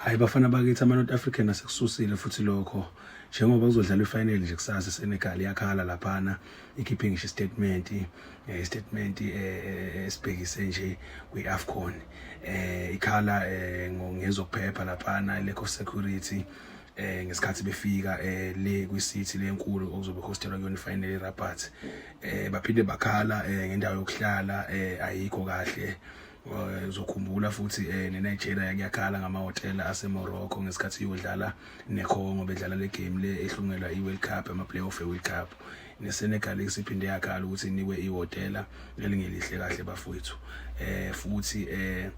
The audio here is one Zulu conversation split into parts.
hayi bafana bakithi ama-north african asekususile futhi lokho njengoba kuzodlalwa ifinal nje kusasa isenegal iyakhala laphana ikhiphe ngisho istatement eh, istatement eh, eh, esibhekise nje kwi-afcon um ikhala um ngezokuphepha laphana lack of security eh ngesikhathi befika eh le kwiCity lenkulu okuzobe hostelwa kuyona ifinal eRabat eh baphinde bakhala eh ngendawo yokuhlala eh ayikho kahle Eh, uzokhumbula futhi eh, neNigeria kuyakhala ngamahhotela aseMorocco ngesikhathi iyodlala neCongo bedlala le game le ehlungelwa i-World Cup ama-playoff e-World Cup neSenegal isiphinde yakhala ukuthi inikwe ihhotela elingelihle kahle bafowethu eh futhi eh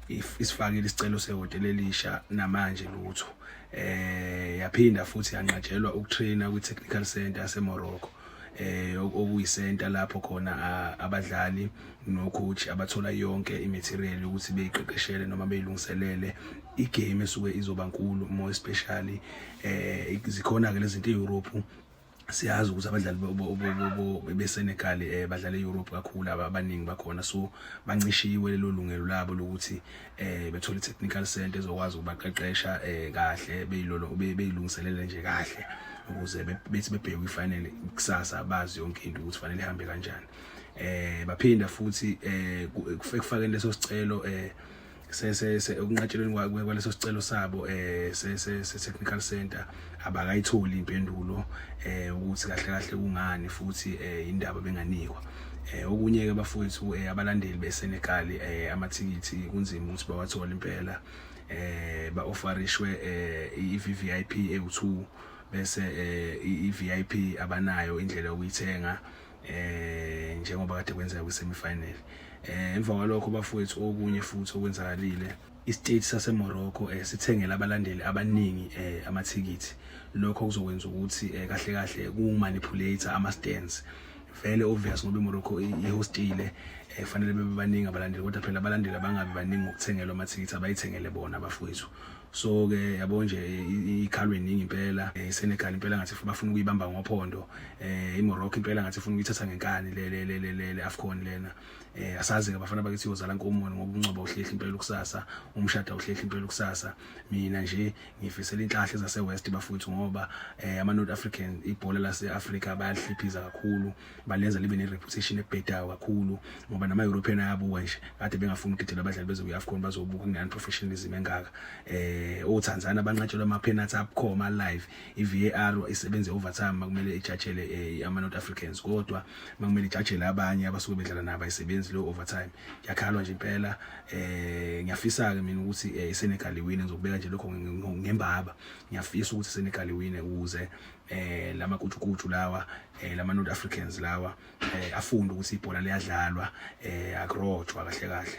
isifakile isicelo sehhotela elisha namanje lutho eh yaphinda futhi yanqatshelwa ukutraina kwi-technical center yaseMorocco eh okuyisenta lapho khona abadlali nocoach abathola yonke imaterial ukuthi beyiqeqeshele noma beyilungiselele igame esuke izoba nkulu more especially eh zikhona ke lezinto eEurope siyazi ukuthi abadlali beSenegal eh badlala eEurope kakhulu abaningi bakhona so bancishiwe lelo lungelo labo lokuthi eh bethole technical center ezokwazi ukubaqeqesha eh kahle beyilolo beyilungiselele nje kahle ukuze bethi bebheke ifinal kusasa bazi yonke into ukuthi fanele ihambe kanjani eh baphinda futhi eh kufakeni leso sicelo eh se se ukunqatshelweni kwaleso sicelo sabo eh se se technical center abakayitholi impendulo eh ukuthi kahle kahle kungani futhi eh indaba benganikwa eh okunye ke bafowethu eh, abalandeli beSenegal eh amathikithi kunzima ukuthi bawathole impela eh ba offerishwe eh iVVIP ewu2 bese eh iVIP abanayo indlela yokuyithenga eh njengoba kade kwenzeka kwi semi final eh emva kwalokho bafowethu okunye futhi okwenzakalile Istate saseMorocco eh, sithengela abalandeli abaningi eh, amathikithi lokho kuzokwenza ukuthi eh, kahle kahle kumanipulate ama stands vele obvious ngoba iMorocco ihostile efanele eh, bebe baningi abalandeli kodwa phela abalandeli abangabi baningi ngokuthengelwa amathikithi abayithengele bona abafowethu so ke yabo nje ikhalwe iningi impela eh, iSenegal impela ngathi bafuna ukuyibamba ngophondo eh, iMorocco impela ngathi ifuna ukuyithatha ngenkani le le le le AFCON lena eh asazi ke bafana bakithi yozala nkomoni ngoba umncwaba uhlehla impela ukusasa umshada uhlehla impela ukusasa mina nje ngifisela inhlahla zase west bafuthu ngoba eh ama North African ibhola lase Africa bayalihliphiza kakhulu balenza libe ne reputation ebhedayo kakhulu ngoba nama European ayabuka nje kade bengafuni ukugidela abadlali bezo kwi-AFCON bazobuka kunani professionalism engaka eh o Tanzania banqatshelwa ama penalty abukhoma live i VAR isebenze overtime makumele ijajele eh, ama North Africans kodwa bekumele ijajele abanye abasuke bedlala nabo ayisebenzi leyo overtime ngiyakhalwa nje impela eh ngiyafisa ke mina ukuthi eh, iSenegal iwine ngizokubeka nje lokho ngembaba ngiyafisa ukuthi iSenegal iwine ukuze eh lama kujukuju lawa eh lama North Africans lawa eh afunde ukuthi ibhola liyadlalwa eh akrojwa kahle kahle